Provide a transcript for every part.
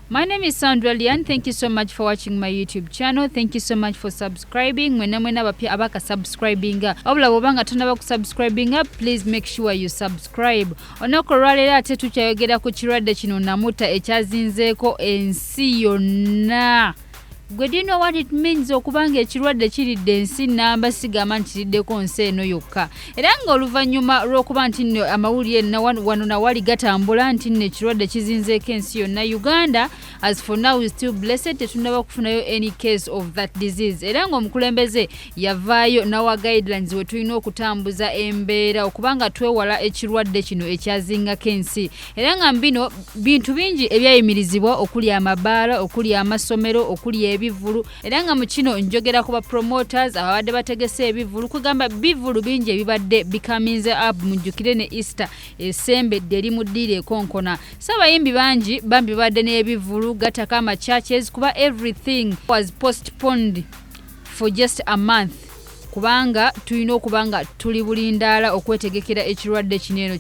My name is Sandra Lian. Thank you so much for watching my YouTube channel. Thank you so much for subscribing. Mwena mwena bapya abaka subscribinga. Obula wobanga tunaba kusubscribinga, please make sure you subscribe. Onoko rwalele ate tukyayogera ku kirwadde kino namuta ekyazinzeeko ensi yonna. Gwe do you know what it means okuba nga ekirwadde kiridde ensi namba sigamba nti kiriddeko nsi eno yokka era nga oluvannyuma lw'okuba nti nno amawulire wano nawali gatambula nti nno ekirwadde kizinzeeko ensi yonna uganda as for now is still blessed tetunaba kufunayo any case of that disease era nga omukulembeze yavaayo nawa guidelines we tulina okutambuza embeera okuba nga twewala ekirwadde kino ekyazingako ensi era nga mbino bintu bingi ebyayimirizibwa okuli amabaala okuli amasomero okuli ebivulu era nga mu kino njogera ku ba promoters ababadde bategese ebivulu kwegamba bivulu bingi ebibadde bikaminze up mujjukire ne easter esembedde eri mu ddiiro ekonkona so abayimbi bangi bambi babadde n'ebivulu gataka ama churches kuba everything was postponed for just a month kubanga tulina okuba nga tuli bulindaala okwetegekera ekirwadde kino eno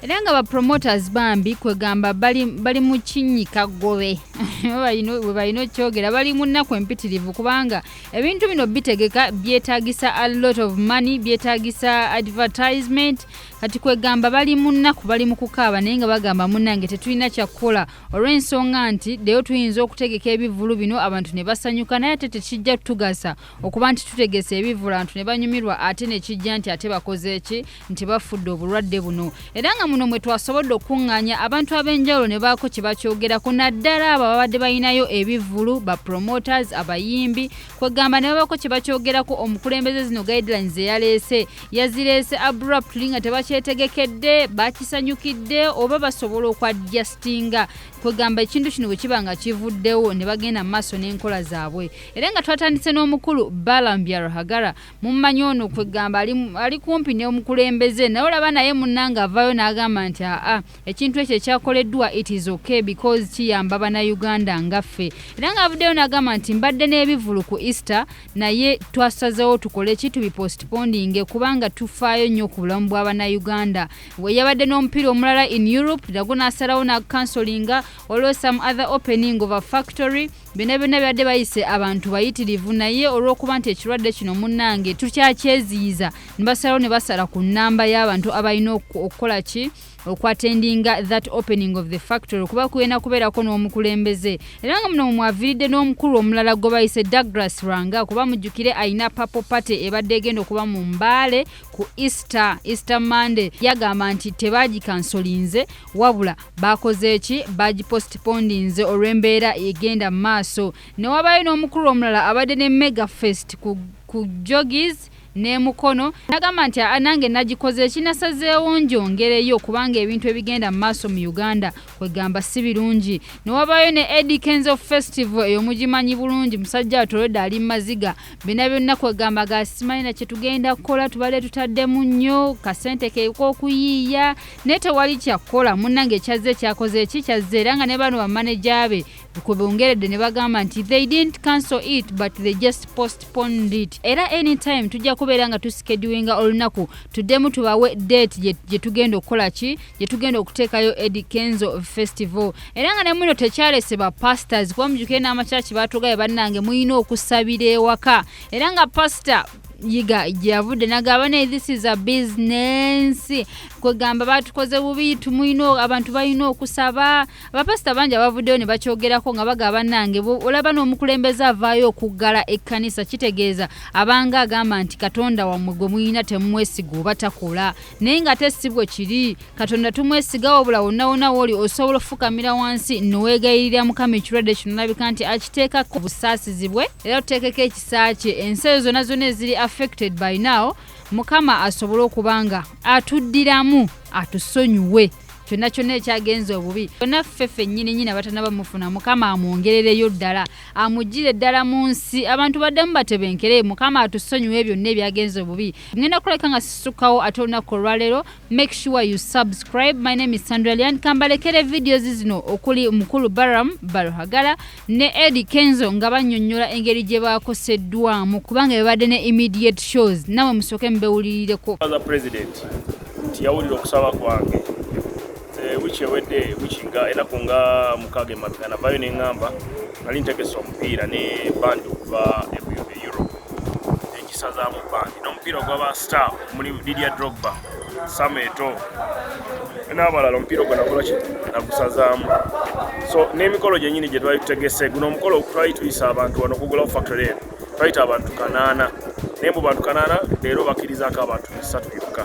era nga ba promoters bambi kwegamba bali, bali mu kinyika gobe webalina okyogera bali mu nnaku empitirivu kubanga ebintu bino bitegeka byetagisa a lot of money byetagisa advertisement kati kwegamba bali mu nnaku bali mu kukaaba naye nga bagamba munange tetulina kyakukola olw'ensonga nti ddeyo tuyinza okutegeka ebivvulu bino abantu ne basanyuka naye ate tekijja tugasa okuba nti tutegese ebivvulu abantu ne banyumirwa ate ne kijja nti ate bakoze ki nti bafudde obulwadde buno era nga muno mwe twasobodde okukuŋŋaanya abantu ab'enjawulo ne baako kye bakyogerako naddala abo ababadde balinayo ebivvulu ba promoters abayimbi kwegamba nebabako kyebakyogerako omukulembeze zino guidelines zeyaleese yazireese abruptly nga tebakyetegekedde bakisanyukidde oba basobola okwadjustinga kwegamba ekintu kino bwekiba nga kivuddewo nebagenda mumaaso n'enkola zaabwe era nga twatandise n'omukulu balambya ruhagara mummanyi ono kwegamba ali kumpi neomukulembeze naye olaba naye munanga avayo n'agamba nti aa ekintu ekyo ekyakoleddwa it is okay because kiyamba banauganda ngaffe era nga avuddeyo nagamba nti mbadde n'ebivulu ku easter naye twasazewo tukole ki tubipostpondinge kubanga tufaayo nnyo ku bulamu bwa banauganda weyabadde n'omupiira omulala in europe nago n'asalawo nakansolinga olwo some other opening of a factory byonna byonna byadde bayise abantu bayitirivu naye olw'okuba nti ekirwadde kino munnange tukyakyeziyiza ne basalawo ne basala ku nnamba y'abantu abalina okukola ki okwatendinga that opening of the factory kuba kuyena kubeerako n'omukulembeze era nga muno mumwaviridde n'omukulu omulala gwe bayise douglas ranga kuba mujjukire alina papo party ebadde egenda okuba mu mbaale ku easter easter monday yagamba nti tebagikansolinze wabula bakoze ki bagipostpondinze olw'embeera egenda mu maaso newabayo n'omukulu omulala abadde ne mega fest ku, ku jogis n'e Mukono n'agamba nti aa nange nagikoze ki nasazeewo ngyongereyo kubanga ebintu ebigenda mu maaso mu Uganda kwegamba si birungi. Ne wabaayo ne Eddy Kenzo Festival eyo mugimanyi bulungi musajja wattu already ali mu maziga byonna byonna kwegamba ga simanyi na kye tugenda kukola tubadde tutaddemu nnyo kasente ke k'okuyiiya naye tewali kya kukola munnange ekyazze kyakoze ki kyazze era nga ne bano bamaneja be kwe bongeredde ne bagamba nti they didn't cancel it but they just postponed it era anytime tujja kubeera nga tusikeduinga olunaku tuddemu tubawe date gye tugenda okukola ki gye tugenda okuteekayo edi kenzo festival era nga nemuno tekyalese ba pastors kuba mujukire n'amakyaki baatugaye bannange mulina okusabira ewaka era nga pasita yiga gyeyavudde nagamba naye this is a business kwegamba batukoze bubi tumulina abantu balina okusaba abapasita bangi abavuddeyo ne bakyogerako nga baga bannange olaba n'omukulembeze avaayo okuggala ekkanisa kitegeeza abanga agamba nti katonda wammwe gwe mulina temumwesiga oba takola naye nga ate si bwe kiri katonda tumwesiga wabula wonnawona wooli osobola okufukamira wansi noweegayirira mukama ekirwadde kino olabika nti akiteekako obusaasizi bwe era tuteekeko ekisa kye ensi ezo zonna zonna eziri affected by now mukama asobole okuba nga atuddiramu atusonyiwe kyonna kyonna ekyagenza obubi kyonna ffe ffennyini nyini abatanaba mufuna mukama amwongerereyo ddala amugire ddala mu nsi abantu baddemu batebenkere mukama atusonyiwe byonna ebyagenza obubi ngenda kulabika nga sisukawo ate olunaku olwaleero make sure you subscribe my name is sandralian kambalekere videos zino okuli mukulu baram baruhagala ne Eddie Kenzo nga bannyonnyola engeri gye baakoseddwamu kubanga bebadde ne immediate shows nawe musooke mubewulirireko yawulira okusaba kwange eh, wiki ewedde wiki nga enaku nga mukaaga emabega navayo neŋŋamba nali ntegesa omupiira ne bandi okuva ebuyobe europe egisazaamu bandi n'omupiira ogwaba star omuli lidia drogba sama eto n'abalala omupiira ogwo nakola ki nagusazaamu so n'emikolo gyenyini gye twali tutegese guno omukolo twali tuyisa abantu wano okugulawo factory eno twayita abantu kanaana naye mu bantu kanaana leero bakirizaako abantu bisatu byokka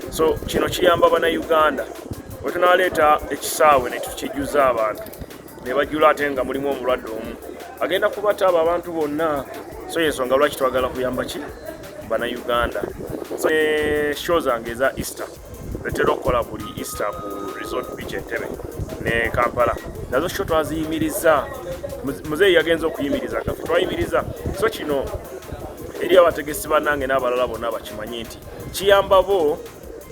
so kino kiyamba banauganda wetunaleeta ekisaawe netukijuza abantu ne bajjula ate nga mulimu omulwadde omu agenda kubata abo abantu bonna so yensonga lwaki twagala kuyamba ki bana uganda so ne show zange eza easter etera okukola buli easter ku resort beach entebe ne kampala nazo sho twaziyimiriza muzeeyi yagenza okuyimiriza gafe twayimiriza so kino eri abategesi banange n'abalala bonna bakimanye nti kiyamba bo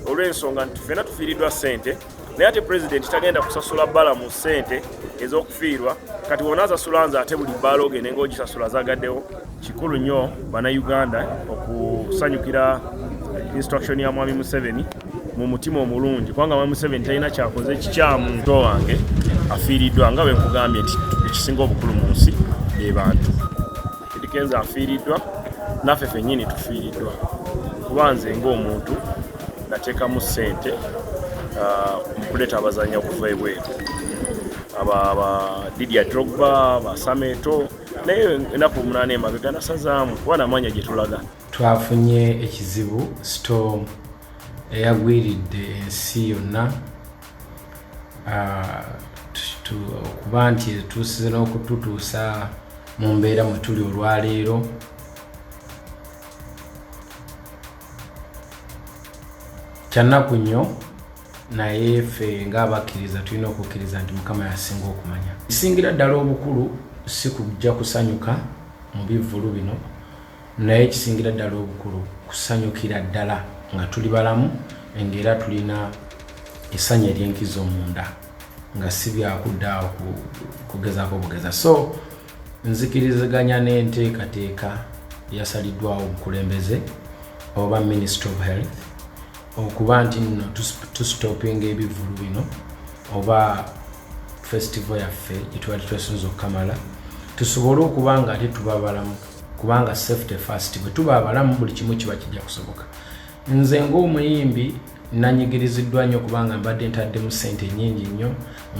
olw'ensonga nti fena tufiiriddwa ssente naye ate pulezidenti tagenda kusasula bbala mu ssente ez'okufiirwa kati wona asasula nze ate buli bbaala ogende ngaogisasula azagaddewo kikulu nnyo bannayuganda okusanyukira instruction ya mwami museveni mu mutima omulungi kubanga mwami museveni talina kyakoze kikyamu nto wange afiiriddwa nga bwe nkugambye nti ekisinga obukulu mu nsi be bantu edikenza afiiriddwa naffe fennyini tufiiriddwa kuba nze ng'omuntu natekamu sente uh, mukuleta abazanya okuva ebweru abadidia drogba basameto naye enaku omunana emabega nasazaamu kuba namanya gyetulaga twafunye ekizibu storm eyagwiridde ensi yonna uh, okuba nti etuusize n'okututuusa mu mbeera mwe tuli olwaleero kyannaku nnyo naye ffe ngaabakkiriza tulina okukkiriza nti mukama yasinga okumanya ekisingira ddala obukulu si kujja kusanyuka mu bivvulu bino naye ekisingira ddala obukulu kusanyukira ddala nga tuli balamu ngaera tulina essanyu ery'enkizo munda nga si byakudda awo kugezaako bugeza so Nzikiriziganya n'enteekateeka eyasaliddwawo obukulembeze oba Ministry of Health okuba nti nno tusitopinga ebivulu bino oba festival yaffe gyetwali twesunza okukamala tusobole okuba nga ate tuba balamu kubanga safety fast bwe tuba abalamu buli kimu kiba kijja kusoboka Nze ng'omuyimbi nanyigiriziddwa nnyo kubanga mbadde ntaddemu ssente nnyingi nnyo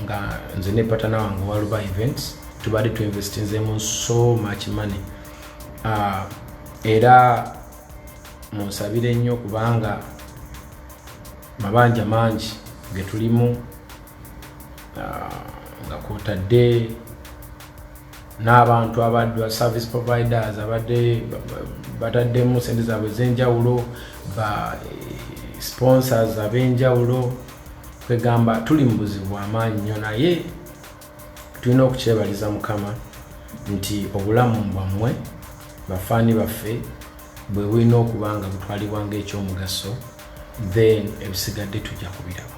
nga nze ne patana wange waluba events tubadde tuinvestinzemu so much money uh, era munsabire nnyo kubanga mabanja mangi getulimu uh, nga kwotadde n'abantu abaddwa service providers abadde bataddemu sente zaabwe ez'enjawulo ba eh, sponsors ab'enjawulo kwegamba tuli mu buzibu bw'amaanyi nnyo naye tulina okukyebaliza mukama nti obulamu bwammwe bafaani baffe bwe bulina okuba nga butwalibwa ng'ekyomugaso then ebisigadde tujja kubiraba